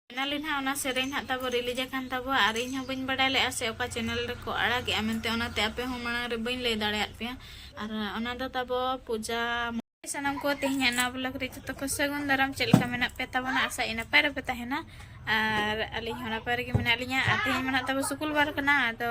finally ᱱᱟᱦᱟᱜ ᱚᱱᱟ ᱥᱮᱨᱮᱧ ᱱᱟᱦᱟᱜ ᱛᱟᱵᱚ ᱨᱤᱞᱤᱡᱽ ᱟᱠᱟᱱ ᱛᱟᱵᱚᱣᱟ ᱟᱨ ᱤᱧ ᱦᱚᱸ ᱵᱟᱹᱧ ᱵᱟᱰᱟᱭ ᱞᱮᱫᱼᱟ ᱥᱮ ᱚᱠᱟ ᱪᱮᱱᱮᱞ ᱨᱮᱠᱚ ᱟᱲᱟᱜᱮᱜᱼᱟ ᱢᱮᱱᱛᱮ ᱚᱱᱟᱛᱮ ᱟᱯᱮ ᱦᱚᱸ ᱢᱟᱲᱟᱝ ᱨᱮ ᱵᱟᱹᱧ ᱞᱟᱹᱭ ᱫᱟᱲᱮᱭᱟᱫ ᱯᱮᱭᱟ ᱟᱨ ᱚᱱᱟ ᱫᱚ ᱛᱟᱵᱚ ᱯᱩᱡᱟ ᱥᱟᱱᱟᱢ ᱠᱚ ᱛᱮᱦᱮᱧ ᱱᱟᱣᱟ ᱵᱞᱚᱜ ᱨᱮ ᱡᱚᱛᱚ ᱠᱚ ᱥᱟᱹᱜᱩᱱ ᱫᱟᱨᱟᱢ ᱪᱮᱫ ᱞᱮᱠᱟ ᱢᱮᱱᱟᱜ ᱯᱮ ᱛᱟᱵᱚᱱᱟ ᱟᱥᱟ ᱤᱧ ᱱᱟᱯᱟᱭ ᱨᱮᱯᱮ ᱛᱟᱦᱮᱱᱟ ᱟᱨ ᱟᱹᱞᱤᱧ ᱦᱚᱸ ᱱᱟᱯᱟᱭ ᱨᱮᱜᱮ ᱢᱮᱱᱟᱜ ᱞᱤᱧᱟ ᱟᱨ ᱛᱮᱦᱮᱧ ᱢᱮᱱᱟᱜ ᱛᱟᱵᱚ ᱥᱩᱠᱩᱞ ᱵᱟᱨ ᱠᱟᱱᱟ ᱟᱫᱚ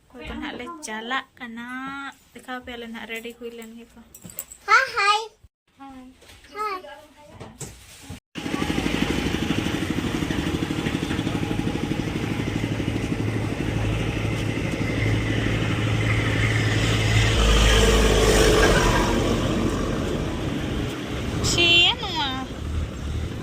ᱚᱠᱚᱭ ᱫᱚ ᱱᱟᱦᱟᱜ ᱞᱮ ᱪᱟᱞᱟᱜ ᱠᱟᱱᱟ ᱫᱮᱠᱷᱟᱣ ᱯᱮᱭᱟᱞᱮ ᱱᱟᱦᱟᱜ ᱨᱮᱰᱤ ᱦᱩᱭ ᱞᱮᱱ ᱜᱮᱠᱚ ᱦᱟᱭ ᱦᱟᱭ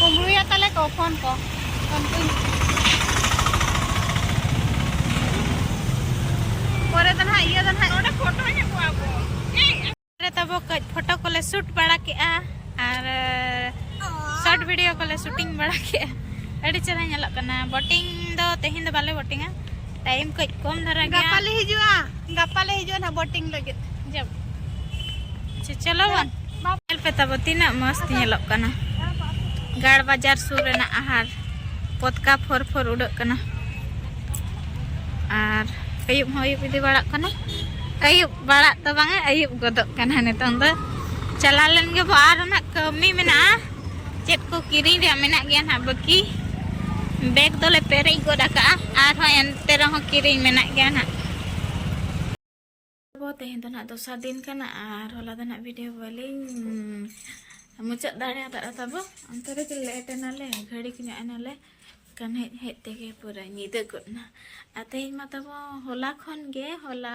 ᱠᱩᱢᱵᱽᱲᱩᱭᱟ ᱛᱟᱞᱮ ᱠᱚ ᱯᱷᱳᱱ ᱠᱚ ᱯᱷᱳᱱ ᱠᱚᱧ ᱯᱚᱨᱮ ᱫᱚ ᱱᱟᱦᱟᱜ ᱤᱭᱟᱹ ᱫᱚ ᱱᱟᱦᱟᱜ ᱱᱚᱰᱮ ᱯᱷᱳᱴᱳ ᱧᱟᱢ ᱠᱚᱣᱟ ᱵᱚ ᱯᱚᱨᱮ ᱛᱟᱵᱚ ᱠᱟᱹᱡ ᱯᱷᱳᱴᱳ ᱠᱚᱞᱮ ᱥᱩᱴ ᱵᱟᱲᱟ ᱠᱮᱜᱼᱟ ᱟᱨ ᱥᱚᱨᱴ ᱵᱷᱤᱰᱤᱭᱳ ᱠᱚᱞᱮ ᱥᱩᱴᱤᱝ ᱵᱟᱲᱟ ᱠᱮᱜᱼᱟ ᱟᱹᱰᱤ ᱪᱮᱦᱨᱟ ᱧᱮᱞᱚᱜ ᱠᱟᱱᱟ ᱵᱳᱴᱤᱝ ᱫᱚ ᱛᱮᱦᱮᱧ ᱫᱚ ᱵᱟᱞᱮ ᱵᱳᱴᱤᱝᱟ ᱴᱟᱭᱤᱢ ᱠᱚᱡ ᱠᱚᱢ ᱫᱷᱟᱨᱟ ᱜᱮᱭᱟ ᱜᱟᱯᱟ ᱞᱮ ᱦᱤᱡᱩᱜᱼᱟ ᱜᱟᱯᱟ ᱞᱮ ᱦᱤᱡᱩᱜᱼᱟ ᱱᱟ ᱵᱳᱴᱤᱝ ᱞᱟᱹᱜᱤᱫ ᱡᱚᱵ ᱟᱪᱪᱷᱟ ᱪᱚᱞᱚ ᱵᱚᱱ ᱧᱮᱞ ᱯᱮ ᱛᱟᱵᱚ ᱛᱤᱱᱟᱹᱜ ᱢᱚᱥᱛ ᱧᱮᱞᱚᱜ ᱠᱟᱱᱟ ᱜᱟᱲ ᱵᱟᱡᱟᱨ ᱥᱩᱨ ᱨᱮᱱᱟᱜ ᱟᱦᱟᱨ ᱯᱚᱛᱠᱟ ᱯᱷᱚᱨ ᱯᱷᱚᱨ ᱩᱰᱟᱹᱜ ᱠᱟᱱᱟ ᱟᱨ ᱟᱹᱭᱩᱵ ᱦᱚᱸ ᱟᱹᱭᱩᱵ ᱤᱫᱤ ᱵᱟᱲᱟᱜ ᱠᱟᱱᱟ ᱟᱹᱭᱩᱵ ᱵᱟᱲᱟᱜ ᱫᱚ ᱵᱟᱝᱟ ᱟᱹᱭᱩᱵ ᱜᱚᱫᱚᱜ ᱠᱟᱱᱟ ᱱᱤᱛᱚᱝ ᱫᱚ ᱪᱟᱞᱟᱣ ᱞᱮᱱ ᱜᱮᱵᱚ ᱟᱨ ᱱᱟᱜ ᱠᱟᱹᱢᱤ ᱢᱮᱱᱟᱜᱼᱟ ᱪᱮᱫ ᱠᱚ ᱠᱤᱨᱤᱧ ᱨᱮᱭᱟᱜ ᱢᱮᱱᱟᱜ ᱜᱮᱭᱟ ᱱᱟᱦᱟᱜ ᱵᱟᱹᱠᱤ ᱵᱮᱜᱽ ᱫᱚᱞᱮ ᱯᱮᱨᱮᱡ ᱜᱚᱫ ᱟᱠᱟᱜᱼᱟ ᱟᱨᱦᱚᱸ ᱮᱱᱛᱮ ᱨᱮᱦᱚᱸ ᱠᱤᱨᱤᱧ ᱢᱮᱱᱟᱜ ᱜᱮᱭᱟ ᱱᱟᱦᱟᱜ ᱛᱮᱦᱮᱧ ᱫᱚ ᱱᱟᱦᱟᱜ ᱫᱚᱥᱟᱨ ᱫᱤᱱ ᱠᱟᱱᱟ ᱟᱨ ᱦᱚᱞᱟ ᱫᱚ ᱱᱟᱦᱟᱜ ᱵᱷᱤᱰᱤᱭᱳ ᱵᱟᱹᱞᱤᱧ ᱢᱩᱪᱟᱹᱫ ᱫᱟᱲᱮᱭᱟᱫᱟ ᱛᱟᱵᱚ ᱚᱱᱛᱮ ᱨᱮᱜᱮ ᱞᱮᱴ ᱮᱱᱟᱞᱮ ᱜᱷᱟᱹᱲᱤᱠ ᱧᱚᱜ ᱮᱱᱟᱞᱮ ᱠᱟᱱ ᱦᱮᱡ ᱦᱮᱡ ᱛᱮᱜᱮ ᱯᱩᱨᱟᱹ ᱧᱤᱫᱟᱹ ᱜᱚᱫ ᱮᱱᱟ ᱟᱨ ᱛᱮᱦᱮᱧ ᱢᱟ ᱛᱟᱵᱚ ᱦᱚᱞᱟ ᱠᱷᱚᱱ ᱜᱮ ᱦᱚᱞᱟ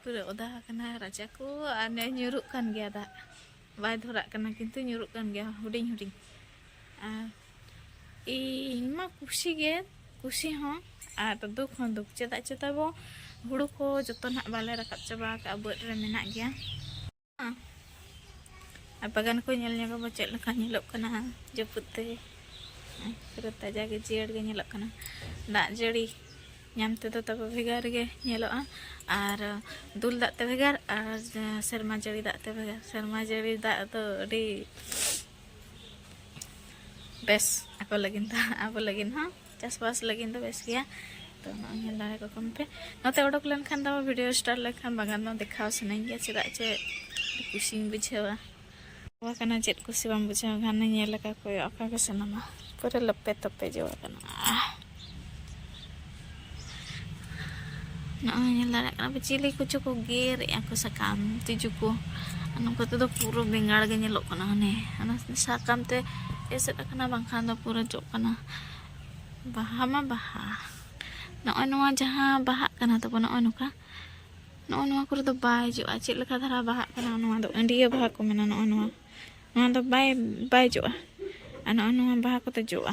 ᱯᱩᱨᱟᱹ ᱚᱫᱟ ᱟᱠᱟᱱᱟ ᱨᱟᱪᱟ ᱠᱚ ᱟᱨ ᱱᱮ ᱧᱩᱨᱩᱜ ᱠᱟᱱ ᱜᱮᱭᱟ ᱫᱟᱜ ᱵᱟᱭ ᱫᱷᱚᱨᱟᱜ ᱠᱟᱱᱟ ᱠᱤᱱᱛᱩ ᱧᱩᱨᱩᱜ ᱠᱟᱱ ᱜᱮᱭᱟ ᱦᱩᱰᱤᱧ ᱦᱩᱰᱤᱧ ᱟᱨ ᱤᱧ ᱢᱟ ᱠᱩᱥᱤ ᱜᱮ ᱠᱩᱥᱤ ᱦᱚᱸ ᱟᱨ ᱫᱩᱠ ᱦᱚᱸ ᱫᱩᱠ ᱪᱮᱫᱟᱜ ᱪᱮᱛᱟᱵᱚ ᱦᱩᱲᱩ ᱠᱚ ᱡᱚᱛᱚ ᱱᱟᱜ ᱵᱟᱞᱮ ᱨᱟᱠᱟᱵ ᱪᱟᱵᱟ ᱟᱠᱟᱫᱼᱟ ᱵᱟᱹᱫᱽ ᱨᱮ ᱢᱮᱱᱟᱜ ᱜᱮᱭᱟ ᱟᱨ ᱵᱟᱜᱟᱱ ᱠᱚ ᱧᱮᱞ ᱧᱚᱜ ᱟᱵᱚ ᱪᱮᱫ ᱞᱮᱠᱟ ᱧᱮᱞᱚᱜ ᱠᱟᱱᱟ ᱡᱟᱹᱯᱩᱫ ᱛᱮ ᱯᱩᱨᱟᱹ ᱛᱟᱡᱟ ᱜᱮ ᱡᱤᱭᱟᱹᱲ ᱜᱮ ᱧᱮᱞᱚᱜ ᱠᱟᱱᱟ ᱫᱟᱜ ᱡᱟᱹᱲᱤ ᱧᱟᱢ ᱛᱮᱫᱚ ᱛᱟᱵᱚ ᱵᱷᱮᱜᱟᱨ ᱜᱮ ᱧᱮᱞᱚᱜᱼᱟ ᱟᱨ ᱫᱩᱞ ᱫᱟᱜ ᱛᱮ ᱵᱷᱮᱜᱟᱨ ᱟᱨ ᱥᱮᱨᱢᱟ ᱡᱟᱹᱲᱤ ᱫᱟᱜ ᱛᱮ ᱵᱷᱮᱜᱟᱨ ᱥᱮᱨᱢᱟ ᱡᱟᱹᱲᱤ ᱫᱟᱜ ᱫᱚ ᱟᱹᱰᱤ ᱵᱮᱥ ᱟᱠᱚ ᱞᱟᱹᱜᱤᱫ ᱫᱚ ᱟᱵᱚ ᱞᱟᱹᱜᱤᱫ ᱦᱚᱸ ᱪᱟᱥᱵᱟᱥ ᱞᱟᱹᱜᱤᱫ ᱫᱚ ᱵᱮᱥ ᱜᱮᱭᱟ ᱛᱚ ᱱᱚᱜᱼᱚᱭ ᱧᱮᱞ ᱫᱟᱲᱮ ᱠᱚ ᱠᱚᱢ ᱯᱮ ᱱᱚᱛᱮ ᱚᱰᱚᱠ ᱞᱮᱱᱠᱷᱟᱱ ᱫᱚ ᱵᱷᱤᱰᱤᱭᱳ ᱥᱴᱟᱨ ᱞᱮᱠᱷᱟᱱ ᱵᱟᱜᱟᱱ ᱫᱚ ᱫᱮᱠᱷᱟᱣ ᱥᱟᱱᱟᱧ ᱜᱮᱭᱟ ᱪᱮᱫᱟᱜ ᱪᱮ ᱠᱩᱥᱤᱧ ᱵᱩᱡᱷᱟᱹᱣᱟ ᱡᱚ ᱠᱟᱱᱟ ᱪᱮᱫ ᱠᱩᱥᱤ ᱵᱟᱢ ᱵᱩᱡᱷᱟᱹᱣ ᱠᱷᱟᱱ ᱧᱮᱞ ᱟᱠᱟ ᱠᱚᱭᱚᱜ ᱟᱠᱟ ᱜᱮ ᱥᱟᱱᱟᱢᱟ ᱯᱩᱨᱟᱹ ᱞᱚᱯᱮ ᱛᱚᱯᱮ ᱡᱚ ᱠᱟᱱᱟ ᱱᱚᱜᱼᱚᱭ ᱧᱮᱞ ᱫᱟᱲᱮᱭᱟᱜ ᱠᱟᱱᱟ ᱯᱮ ᱪᱤᱞᱤ ᱠᱚᱪᱚ ᱠᱚ ᱜᱮᱨᱮᱫᱼᱟ ᱠᱚ ᱥᱟᱠᱟᱢ ᱛᱤᱡᱩ ᱠᱚ ᱱᱚᱝᱠᱟ ᱛᱮᱫᱚ ᱯᱩᱨᱟᱹ ᱵᱮᱸᱜᱟᱲ ᱜᱮ ᱧᱮᱞᱚᱜ ᱠᱟᱱᱟ ᱦᱟᱱᱮ ᱚᱱᱟ ᱥᱟᱠᱟᱢ ᱛᱮ ᱮᱥᱮᱫ ᱟᱠᱟᱱᱟ ᱵᱟᱝᱠᱷᱟᱱ ᱫᱚ ᱯᱩᱨᱟᱹ ᱡᱚᱜ ᱠᱟᱱᱟ ᱵᱟᱦᱟ ᱢᱟ ᱵᱟᱦᱟ ᱱᱚᱜᱼᱚᱭ ᱱᱚᱣᱟ ᱡᱟᱦᱟᱸ ᱵᱟᱦᱟᱜ ᱠᱟᱱᱟ ᱛᱟᱵᱚ ᱱᱚᱜᱼᱚᱭ ᱱᱚᱝᱠᱟ ᱱᱚᱜᱼᱚᱭ ᱱᱚᱣᱟ ᱠᱚᱨᱮ ᱫᱚ ᱵᱟᱭ ᱡᱚᱜᱼᱟ ᱪᱮᱫ ᱞᱮᱠᱟ ᱫᱷᱟᱨᱟ ᱵᱟᱦᱟᱜ ᱠᱟᱱᱟ ᱱᱚᱣᱟ ᱫᱚ ᱟᱹᱰᱤᱭᱟᱹ ᱵᱟᱦᱟ ᱠᱚ ᱢᱮᱱᱟ ᱱᱚᱜᱼᱚᱭ ᱱᱚᱣᱟ ᱱᱚᱣᱟ ᱫᱚ ᱵᱟᱭ ᱵᱟᱭ ᱡᱚᱜᱼᱟ ᱟᱨ ᱱᱚᱜᱼᱚᱭ ᱱᱚᱣᱟ ᱵᱟᱦᱟ ᱠᱚᱛᱮ ᱡᱚᱜᱼᱟ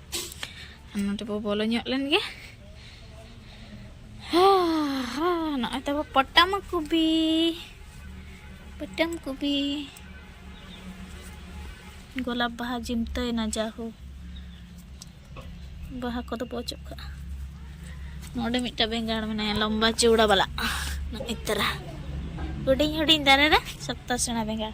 ᱱᱚᱰᱮ ᱵᱚ ᱵᱚᱞᱚ ᱧᱚᱜ ᱞᱮᱱ ᱜᱮ ᱱᱚᱜᱼᱚᱭ ᱛᱟᱵᱚ ᱯᱚᱴᱟᱢ ᱠᱚᱵᱤ ᱯᱚᱴᱟᱢ ᱠᱚᱵᱤ ᱜᱳᱞᱟᱯ ᱵᱟᱦᱟ ᱡᱤᱢᱛᱟᱹᱭᱮᱱᱟ ᱡᱟᱦᱳ ᱵᱟᱦᱟ ᱠᱚᱫᱚ ᱵᱚ ᱚᱪᱚᱜ ᱠᱟᱜᱼᱟ ᱱᱚᱰᱮ ᱢᱤᱫᱴᱟᱝ ᱵᱮᱸᱜᱟᱲ ᱢᱮᱱᱟᱭᱟ ᱞᱚᱢᱵᱟ ᱪᱩᱣᱲᱟ ᱵᱟᱞᱟ ᱱᱚᱜᱼᱚᱭ ᱛᱟᱨᱟ ᱦᱩᱰᱤᱧ ᱦᱩᱰᱤᱧ ᱫᱟᱨᱮ ᱨᱮ ᱥᱚᱠᱛᱚ ᱥᱮᱬᱟ ᱵᱮᱸᱜᱟᱲ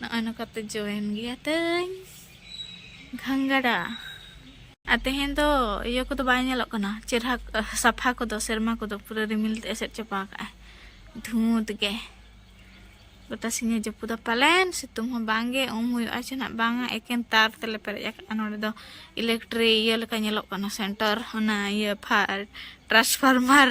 ᱱᱚᱜᱼᱚᱭ ᱱᱚᱝᱠᱟᱛᱮ ᱡᱚᱭᱮᱱ ᱜᱮᱭᱟ ᱛᱟᱹᱧ ᱜᱷᱟᱝᱜᱟᱰᱟ ᱟᱨ ᱛᱮᱦᱮᱧ ᱫᱚ ᱤᱭᱟᱹ ᱠᱚᱫᱚ ᱵᱟᱭ ᱧᱮᱞᱚᱜ ᱠᱟᱱᱟ ᱪᱮᱨᱦᱟ ᱥᱟᱯᱷᱟ ᱠᱚᱫᱚ ᱥᱮᱨᱢᱟ ᱠᱚᱫᱚ ᱯᱩᱨᱟᱹ ᱨᱤᱢᱤᱞ ᱛᱮ ᱮᱥᱮᱫ ᱪᱟᱵᱟ ᱠᱟᱜᱼᱟᱭ ᱫᱷᱩᱸᱛ ᱜᱮ ᱜᱚᱴᱟ ᱥᱤᱧᱮ ᱡᱟᱹᱯᱩᱫᱟ ᱯᱟᱞᱮᱱ ᱥᱤᱛᱩᱝ ᱦᱚᱸ ᱵᱟᱝᱜᱮ ᱩᱢ ᱦᱩᱭᱩᱜᱼᱟ ᱪᱮ ᱱᱟᱜ ᱵᱟᱝᱟ ᱮᱠᱮᱱ ᱛᱟᱨ ᱛᱮᱞᱮ ᱯᱮᱨᱮᱡ ᱟᱠᱟᱫᱼᱟ ᱱᱚᱰᱮ ᱫᱚ ᱤᱞᱮᱠᱴᱨᱤ ᱤᱭᱟᱹ ᱞᱮᱠᱟ ᱧᱮᱞᱚᱜ ᱠᱟᱱᱟ ᱥᱮᱱᱴᱟᱨ ᱚᱱᱟ ᱤᱭᱟᱹ ᱯᱷᱟᱨ ᱴᱨᱟᱱᱥᱯᱷᱟᱨᱢᱟᱨ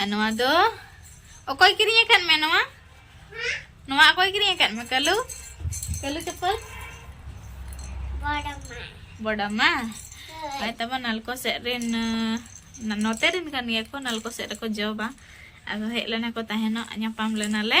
ᱟᱨ ᱱᱚᱣᱟ ᱫᱚ ᱚᱠᱚᱭ ᱠᱤᱨᱤᱧ ᱟᱠᱟᱫ ᱢᱮ ᱱᱚᱣᱟ ᱱᱚᱣᱟ ᱚᱠᱚᱭ ᱠᱤᱨᱤᱧ ᱟᱠᱟᱫ ᱢᱮ ᱠᱟᱞᱩ ᱠᱟᱞᱩ ᱪᱚᱯᱚᱞ ᱵᱚᱰᱟᱢᱟ ᱟᱨ ᱛᱟᱵᱚ ᱱᱟᱞᱠᱚ ᱥᱮᱫ ᱨᱮᱱ ᱱᱚᱛᱮ ᱨᱮᱱ ᱠᱟᱱ ᱜᱮᱭᱟ ᱠᱚ ᱱᱟᱞᱠᱚ ᱥᱮᱫ ᱨᱮᱠᱚ ᱡᱚᱵᱟ ᱟᱫᱚ ᱦᱮᱡ ᱞᱮᱱᱟ ᱠᱚ ᱛᱟᱦᱮᱱᱚᱜ ᱧᱟᱯᱟᱢ ᱞᱮᱱᱟᱞᱮ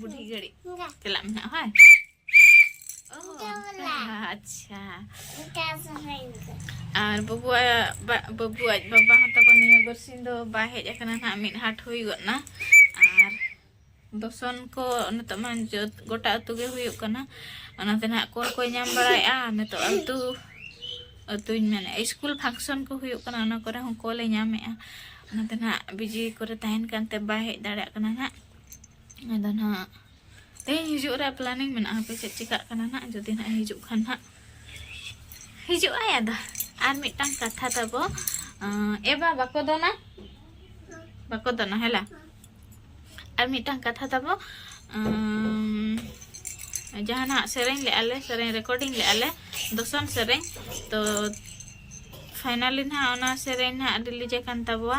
ᱵᱩᱰᱷᱤ ᱜᱷᱟᱹᱲᱤᱡ ᱪᱟᱞᱟᱜ ᱢᱮ ᱦᱟᱸᱜ ᱦᱳᱭ ᱟᱪᱪᱷᱟ ᱟᱨ ᱵᱟᱹᱵᱩᱣᱟᱜ ᱵᱟᱹᱵᱩ ᱟᱡ ᱵᱟᱵᱟ ᱦᱚᱸ ᱛᱟᱠᱚ ᱱᱤᱭᱟᱹ ᱵᱟᱨᱥᱤᱧ ᱫᱚ ᱵᱟᱭ ᱦᱮᱡ ᱟᱠᱟᱱᱟ ᱱᱟᱜ ᱢᱤᱫ ᱦᱟᱴ ᱦᱩᱭ ᱜᱚᱫ ᱱᱟ ᱟᱨ ᱫᱚᱥᱚᱱ ᱠᱚ ᱱᱤᱛᱚᱜ ᱢᱟ ᱡᱚᱛ ᱜᱚᱴᱟ ᱟᱹᱛᱩ ᱜᱮ ᱦᱩᱭᱩᱜ ᱠᱟᱱᱟ ᱚᱱᱟᱛᱮ ᱱᱟᱜ ᱠᱚᱞ ᱠᱚᱭ ᱧᱟᱢ ᱵᱟᱲᱟᱭᱮᱫᱼᱟ ᱱᱤᱛᱚᱜ ᱟᱹᱛᱩ ᱟᱹᱛᱩᱧ ᱢᱮᱱᱮᱫᱼᱟ ᱤᱥᱠᱩᱞ ᱯᱷᱟᱝᱥᱚᱱ ᱠᱚ ᱦᱩᱭᱩᱜ ᱠᱟᱱᱟ ᱚᱱᱟ ᱠᱚᱨᱮ ᱦᱚᱸ ᱠᱚᱞᱮ ᱧᱟᱢᱮᱫᱼᱟ ᱚᱱᱟᱛᱮ ᱱᱟᱜ ᱵᱤᱡᱤ ᱠᱚᱨᱮ ᱛᱟᱦᱮᱱ ᱠᱟᱱᱛᱮ ᱵᱟᱭ ᱦᱮᱡ ᱫᱟᱲᱮᱭᱟᱜ ᱠᱟᱱᱟ ᱱᱟᱜ ᱟᱫᱚ ᱱᱟᱦᱟᱜ ᱛᱮᱦᱮᱧ ᱦᱤᱡᱩᱜ ᱨᱮᱭᱟᱜ ᱯᱞᱟᱱᱤᱝ ᱢᱮᱱᱟᱜᱼᱟ ᱦᱟᱯᱮ ᱪᱮᱫ ᱪᱤᱠᱟᱹᱜ ᱠᱟᱱᱟ ᱱᱟᱦᱟᱜ ᱡᱩᱫᱤ ᱱᱟᱦᱟᱜ ᱦᱤᱡᱩᱜ ᱠᱷᱟᱱ ᱱᱟᱦᱟᱜ ᱦᱤᱡᱩᱜ ᱟᱭ ᱟᱫᱚ ᱟᱨ ᱢᱤᱫᱴᱟᱝ ᱠᱟᱛᱷᱟ ᱛᱟᱵᱚ ᱮᱵᱟ ᱵᱟᱠᱚ ᱫᱚᱱᱟ ᱵᱟᱠᱚ ᱫᱚᱱᱟ ᱦᱮᱞᱟ ᱟᱨ ᱢᱤᱫᱴᱟᱝ ᱠᱟᱛᱷᱟ ᱛᱟᱵᱚ ᱡᱟᱦᱟᱱᱟᱜ ᱥᱮᱨᱮᱧ ᱞᱮᱜᱼᱟ ᱞᱮ ᱥᱮᱨᱮᱧ ᱨᱮᱠᱚᱨᱰᱤᱝ ᱞᱮᱜᱼᱟ ᱞᱮ ᱫᱚᱥᱚᱱ ᱥᱮᱨᱮᱧ ᱛᱚ ᱯᱷᱟᱭᱱᱟᱞᱤ ᱱᱟᱦᱟᱜ ᱚᱱᱟ ᱥᱮᱨᱮᱧ ᱱᱟᱦᱟᱜ ᱨᱤᱞᱤᱡᱽ ᱟᱠᱟᱱ ᱛᱟᱵᱚᱣᱟ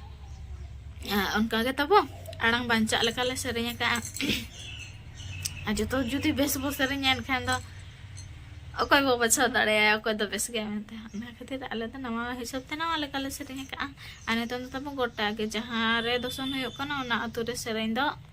ᱚᱱᱠᱟ ᱜᱮ ᱛᱟᱵᱚ ᱟᱲᱟᱝ ᱵᱟᱧᱪᱟᱜ ᱞᱮᱠᱟ ᱞᱮ ᱥᱮᱨᱮᱧ ᱟᱠᱟᱫᱼᱟ ᱟᱨ ᱡᱚᱛᱚ ᱡᱩᱫᱤ ᱵᱮᱥ ᱵᱚ ᱥᱮᱨᱮᱧᱟ ᱮᱱᱠᱷᱟᱱ ᱫᱚ ᱚᱠᱚᱭ ᱵᱚ ᱵᱟᱪᱷᱟᱣ ᱫᱟᱲᱮᱭᱟᱭᱟ ᱚᱠᱚᱭ ᱫᱚ ᱵᱮᱥ ᱜᱮᱭᱟ ᱢᱮᱱᱛᱮ ᱚᱱᱟ ᱠᱷᱟᱹᱛᱤᱨ ᱟᱞᱮ ᱫᱚ ᱱᱟᱣᱟ ᱦᱤᱥᱟᱹᱵ ᱛᱮ ᱱᱟᱣᱟ ᱞᱮᱠᱟᱞᱮ ᱥᱮᱨᱮᱧ ᱟᱠᱟᱫᱼᱟ ᱟᱨ ᱱᱤᱛᱚᱝ ᱫᱚ ᱛᱟᱵᱚ ᱜᱚᱴᱟ ᱜᱮ ᱡᱟᱦᱟᱸ ᱨᱮ ᱫᱚᱥᱚᱱ ᱦᱩᱭᱩᱜ ᱠᱟᱱᱟ ᱚᱱᱟ ᱟᱛᱳ ᱨᱮ ᱥᱮᱨᱮᱧ ᱫᱚ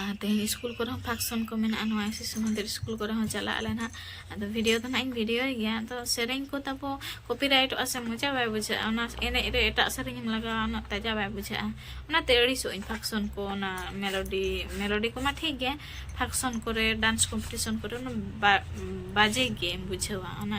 ᱟᱨ ᱛᱮᱦᱮᱧ ᱥᱠᱩᱞ ᱠᱚᱨᱮ ᱦᱚᱸ ᱯᱷᱟᱝᱥᱚᱱ ᱠᱚ ᱢᱮᱱᱟᱜᱼᱟ ᱱᱚᱣᱟ ᱥᱤᱥᱩ ᱢᱚᱱᱫᱤᱨ ᱥᱠᱩᱞ ᱠᱚᱨᱮ ᱦᱚᱸ ᱪᱟᱞᱟᱜ ᱟᱞᱮ ᱱᱟᱦᱟᱜ ᱟᱫᱚ ᱵᱷᱤᱰᱤᱭᱳ ᱫᱚ ᱱᱟᱦᱟᱜ ᱤᱧ ᱵᱷᱤᱰᱤᱭᱳᱭ ᱜᱮᱭᱟ ᱟᱫᱚ ᱥᱮᱨᱮᱧ ᱠᱚ ᱛᱟᱵᱚ ᱠᱚᱯᱤᱨᱟᱭᱤᱴᱚᱜᱼᱟ ᱥᱮ ᱢᱚᱡᱟ ᱵᱟᱭ ᱵᱩᱡᱷᱟᱹᱜᱼᱟ ᱚᱱᱟ ᱮᱱᱮᱡ ᱨᱮ ᱮᱴᱟᱜ ᱥᱮᱨᱮᱧ ᱮᱢ ᱞᱟᱜᱟᱣᱟ ᱩᱱᱟᱹᱜ ᱛᱟᱡᱟ ᱵᱟᱭ ᱵᱩᱡᱷᱟᱹᱜᱼᱟ ᱚᱱᱟᱛᱮ ᱟᱹᱲᱤᱥᱚᱜ ᱟᱹᱧ ᱯᱷᱟᱝᱥᱚᱱ ᱠᱚ ᱚᱱᱟ ᱢᱮᱞᱳᱰᱤ ᱢᱮᱞᱳᱰᱤ ᱠᱚᱢᱟ ᱴᱷᱤᱠ ᱜᱮ ᱯᱷᱟᱝᱥᱚᱱ ᱠᱚᱨᱮ ᱰᱟᱱᱥ ᱠᱚᱢᱯᱤᱴᱤᱥᱚᱱ ᱠᱚᱨᱮ ᱚᱱᱟ ᱵᱟᱡᱮ ᱜᱮᱢ ᱵᱩᱡᱷᱟᱹᱣᱟ ᱚᱱᱟ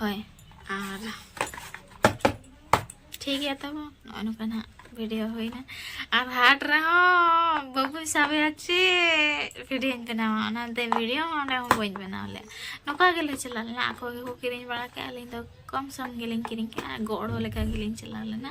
ᱦᱳᱭ ᱟᱨ ᱴᱷᱤᱠ ᱜᱮᱭᱟ ᱛᱟᱵᱚ ᱱᱚᱜᱼᱚ ᱱᱚᱝᱠᱟ ᱱᱟᱜ ᱵᱷᱤᱰᱤᱭᱳ ᱦᱩᱭᱱᱟ ᱟᱨ ᱦᱟᱴ ᱨᱮᱦᱚᱸ ᱵᱟᱹᱵᱩᱧ ᱥᱟᱵᱮᱭᱟ ᱪᱮᱫ ᱵᱷᱤᱰᱤᱭᱳᱧ ᱵᱮᱱᱟᱣᱟ ᱚᱱᱟᱛᱮ ᱵᱷᱤᱰᱤᱭᱳ ᱦᱚᱸ ᱚᱸᱰᱮ ᱦᱚᱸ ᱵᱟᱹᱧ ᱵᱮᱱᱟᱣ ᱞᱮᱫ ᱱᱚᱝᱠᱟ ᱜᱮᱞᱮ ᱪᱟᱞᱟᱣ ᱞᱮᱱᱟ ᱟᱠᱚ ᱜᱮᱠᱚ ᱠᱤᱨᱤᱧ ᱵᱟᱲᱟ ᱠᱮᱫᱼᱟ ᱟᱹᱞᱤᱧ ᱫᱚ ᱠᱚᱢ ᱥᱚᱢ ᱜᱮᱞᱤᱧ ᱠᱤᱨᱤᱧ ᱠᱮᱫᱼᱟ ᱜᱚᱲᱚ ᱞᱮᱠᱟ ᱜᱮᱞᱤᱧ ᱪᱟᱞᱟᱣ ᱞᱮᱱᱟ